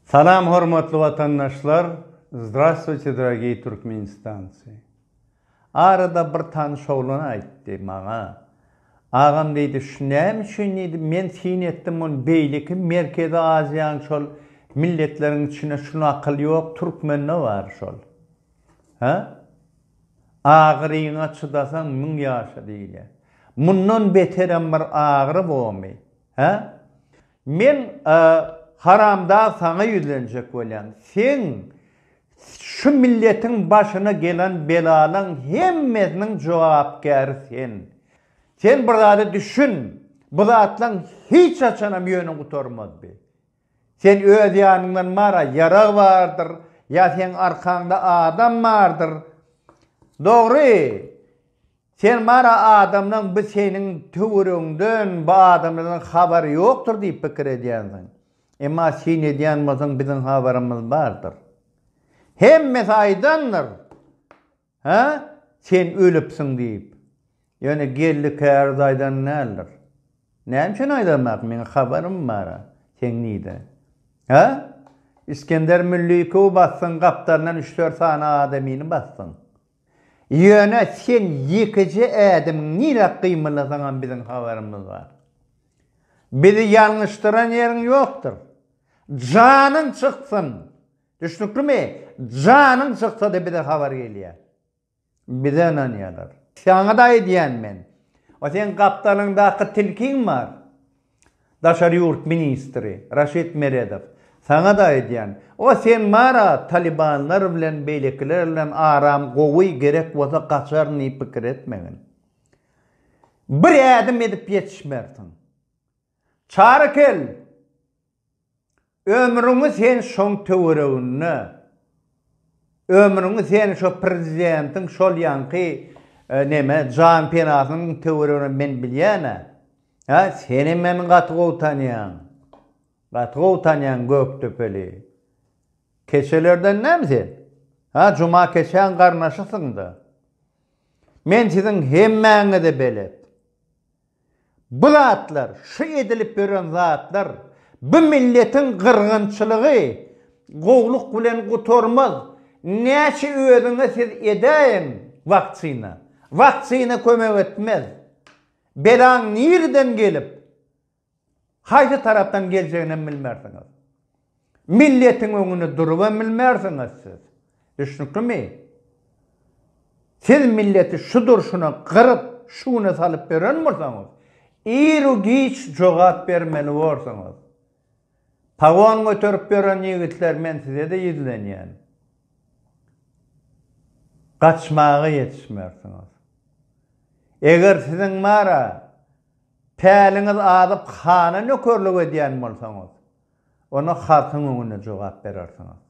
Salam hormatly watandaşlar Zdravstwuyte dragiý Türkmenistancy Arada bir tanyş oglan aýtdy maňa Agam diýdi şu näme üçin diýdi men syn etdim ony beýleki merkezi aziýanyň şol milletleriň içinde şu nakyl ýok türkmende bar şol Hä agyryňa çydasaň müň ýaşa diýilýär mundan beterem bir agyry bormy Hä Men haramdag saňa ýüzlenjek bolýan. Seň şu milletiň başyna gelen belalaň hemmesiniň jogapkäri sen. Sen bir zada düşün, bu zatlaň hiç haçanam ýöne gutarmaz bi. Sen öz ýanyňdan mara ýarag bardyr, ýa seň arkaňda adam bardyr. Dogry, Sen bara adamlaň bu seniň töweregiňden bu adamlardan habary ýokdur diýip pikir edýänsiň. Emma syn edýän bolsaň biziň habarymyz bardyr. Hemmesi aýdandyr. Hä? Sen ölüpsiň diýip. Ýöne Geldi käriz aýdan däldir. Näme üçin aýdanok meň habarym bar seň nide. Hä? Isgender Müllikowy basdyň gapdalyndan üç-dört sany adamyny basdyň. Ýöne sen ýekeje ädimiň nirä gymyllasaňam biziň habarymyz bar. Bizi ýalňyşdyran ýeriň ýokdur. Janyň çyksyn! Düşnüklimi? Janyň çyksa-da bize habar gelýär. Bize ynanýarlar. Saňa-da aýdýan men. O seň gapdalyňdaky tilkiň bar. Daşary ýurt ministri Raşid Meredow, Saňa-da aýdýan, o sen bar-a talybanlar bilen beýlekiler bilen aram gowy, gerek bolsa gaçaryn diýip pikir etmegin. Bir ädim edip ýetişmersiň. Çary kel! Ömrüňi sen şoň töwereginde, ömrüňi sen şo prezidentiň şol ýanky neme jan penasynyň töweregine men bilýän-ä. Hä, seni men gaty gowy tanýan. Gaty gowy tanýan Gökdepeli. Keçelerden näme sen? Hä, Juma keçäň garnaşysyň-da. Men siziň hemmäňize belet. Bu zatlar, şu edilip ýören zatlar, bu milletiň gyrgynçylygy gowluk bilen gutarmaz. Näçe özüňe siz edäýiň wakçina, wakçina kömek etmez. Belaň nireden gelip, Haýsy tarapdan geljegininem bilmersiňiz. Milletiň öňünde durubam bilmersiňiz siz. Düşnüklimi? Siz milleti şu durşuna gyryp, şu güne salyp beren bolsaňyz, iru-giç jogap bermeli borsuňyz. Pagon göterip ýören ýigitler men size-de ýüzlenýän. Gaçmaga ýetişmersiňiz. Eger siziň bara Päliňiz azyp, hana nökerlik edýän bolsaňyz, onda halkyň öňünde jogap berersiňiz.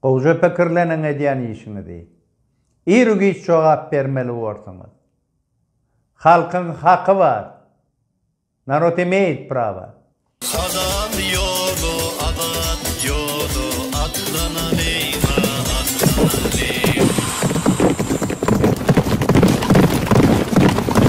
Gowja pikirleniň edýän işiňizi. Ir-u-giç jogap bermeli borsuňyz. Halkyň haky bar. Narod imeýit prawa. Hazal ýoly azat ýoly atlanalyň-a, atlanalyň.